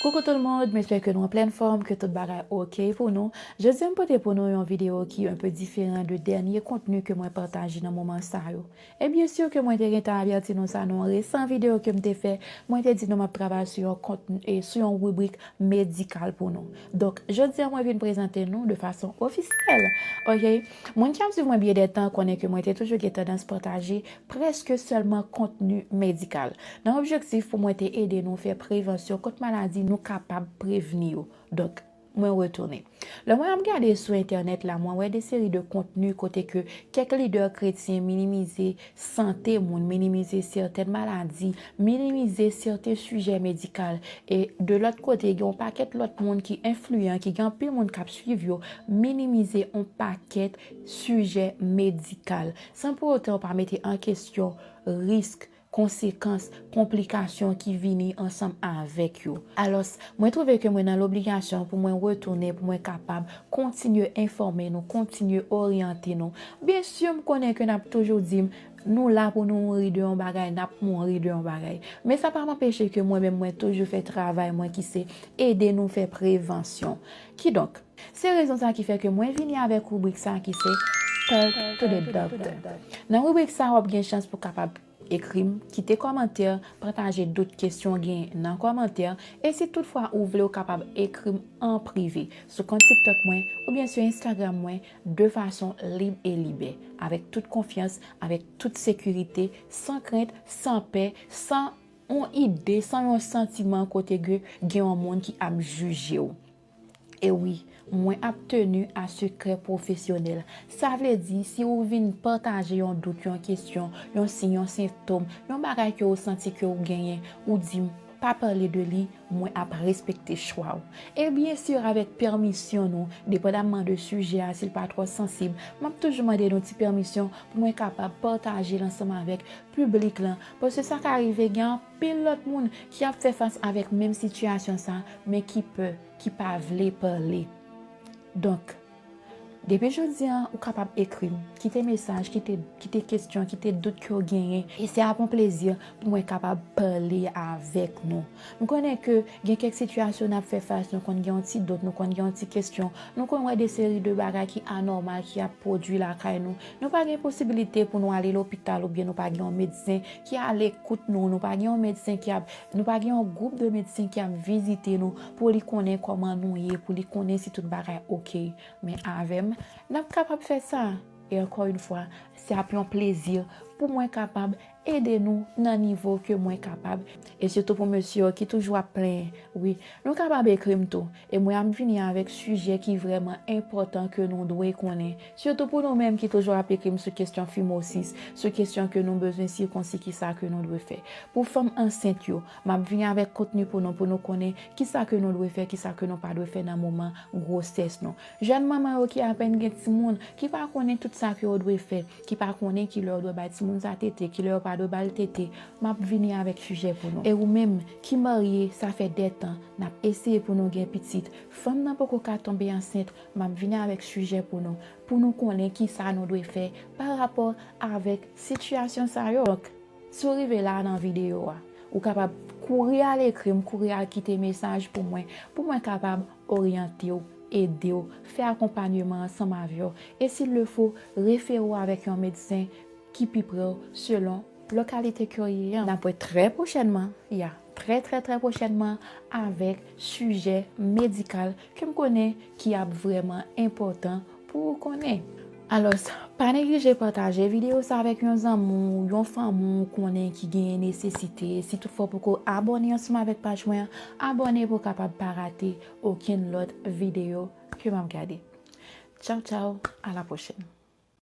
Coucou tout le monde, mespè ke nou anplèn fòm, ke tout bagay ok pou nou. Jodi an m pote pou nou yon video ki un peu diferan de dènye kontni ke mwen pataje nan moman sa yo. E byen sur ke mwen te gentan avèti nou sa nan yon resan video ke m te fè, mwen te di nou map travay sou yon kontni e sou yon ribrik medikal pou nou. Donk jodi an mwen vin prezante nou de fason ofisyèl. Ok, moun ki ap swiv mwen byen de tan konnen ke mwen te toujou gen tandans pataje Prèske sèlman kontni medikal. Nan objektif pou mwen te ede nou fè prevansyon kont maladi nou kapab prevni yo. Donk, mwen retounen. Lè mwen ap gade sou entènèt la, mwen wè de seri de kontni kote ke kèk lidè kretyen minimize sante moun, minimize sètèn maladi, minimize sèten sijè medikal. E, de lòt kote, gen yon pakèt lòt moun ki enfliyan, ki gen anpil moun k ap swiv yo, minimize yon pakèt sijè medikal. san pou otan yo pa mete an kesyon risk, konsekans, konplikasyon ki vini ansanm avèk yo. Alòs, mwen twouve ke mwen nan lobligasyon pou mwen retounen pou mwen kapab kontinye enfòme nou, kontinye oryante nou. Byen si, m konnen ke n ap toujou di m, nou la pou nou mouri de yon bagay, n ap mouri de yon bagay. Men sa pa m anpeche ke mwen menm mwen toujou fè travay mwen ki se ede nou fè prevansyon. Kidonk. Se rezon sa ki fè ke mwen vini avèk rubrik sa ki se Talk to the Doctor. Nan rubrik sa wap gen chans pou kapab ekrim, kite kòmantè, pataje dout, kesyon w gen nan kòmantè, e si tout fwa ou vle ou kapab ekrim an prive sou kont TikTok mwen oubyen sou Instagram mwen de fason lib e libè, avèk tout konfyans, avèk tout sekirite, san krent, san pè, san yon ide, san yon santiman kote ke gen yon moun ki ap jije w. E wi, mwen ap tenu a sekrè pwofesyonèl. Sa vle di, si ou vin pataje yon dout, yon kesyon, yon siy, yon sentom, yon bagay ke ou santi ke ou genyen, ou di m, pa pale de li, mwen ap respekte chwa ou. E byen sur, avèk pèmisyon nou, depandamman de sijè a, si l pa twò sansib, m ap toujou mande nou ti pèmisyon pou mwen kapab pataje l ansanm avèk piblik lan. Paske sa ka rive gen. Pil lòt moun ki ap fè fas avèk menm sitiyasyon sa men ki pè, ki pa vle pale. Donk, depi jodi an ou kapab ekri m, kite mesaj, kite kesyon, kite dout ke w genyen e se ap yon plezi pou mwen kapab pale avèk nou. M konnen ke gen kèk sitiyasyon n ap fè fas, nou konn gen yon ti dout, nou konn gen yon ti kesyon, nou konn wè de seri de bagay ki anòmal ki ap pwodui lakay nou. Nou pa gen posibilite pou nou ale lopital oubyen nou pa gen yon medsen. Ki alekout nou, nou pa gen yon medsen ki ap, nou pa gen yon gwoup de medsen ki ap vizite nou pou li konnen kòman nou ye, pou li konnen si tout bagay ok. Men avè m, n ap kapab fè sa. E ankò yon fwa, se ap yon plezi pou mwen kapab ede nou nan nivo ke mwen kapab. E sitou pou mesye yo ki toujou ap plenyen, wi, nou kapab ekri m tou. E mwen ap vini avèk sijè ki vrèman enpòtan ke nou dwe konnen, sitou pou nou menm ki toujou ap ekri m sou kesyon fimosis, sou kesyon ke nou bezwen sikonsi kisa ke nou dwe fè. Pou fanm ansent yo, m ap vini avèk kontni pou nou pou nou konnen kisa ke nou dwe fè, kisa ke nou pa dwe fè nan moman gwosès nou. Jèn manman yo ki apèn gen timoun, ki pa konnen tout sa ke yo dwe fè, ki pa konnen kilè yo dwe bay timoun sa tete, kilè yo pa dwe ba l tete, m ap vini avèk sijè pou nou. E ou menm ki marye, sa fè de tan, n ap eseye pou nou gen pitit, fanm nan poko ka tonbe ansent, m ap vini avèk sijè pou nou, pou nou konnen ki sa nou dwe fè pa rapò avèk sitiyasyon sa yo. Donk, si w rive la a nan videyo a, ou kapab kouri al ekri m, kouri al kite mesaj pou mwen, pou mwen kapab oryante w, ede w, fè akonpanyeman ansanm avè w e si l le fo, refere w avèk yon medsen ki pi pre w selon lokalite ke w ye an. N ap wè trè pwochènman, ya, trè trè trè pwochènman avèk sijè medikal ke m konnen ki ap vrèman enpòtan Pou ou konnen. Alos, pa neglije pataje video sa avek yon zanmi w, yon fanmi w konnen ki genyen nesesite. Si tout fwa w poko abone ansanm avek paj mwen an, abone pou w kapab pa rate okenn lot video ke map gade. Tchaw tchaw, a la pwochen.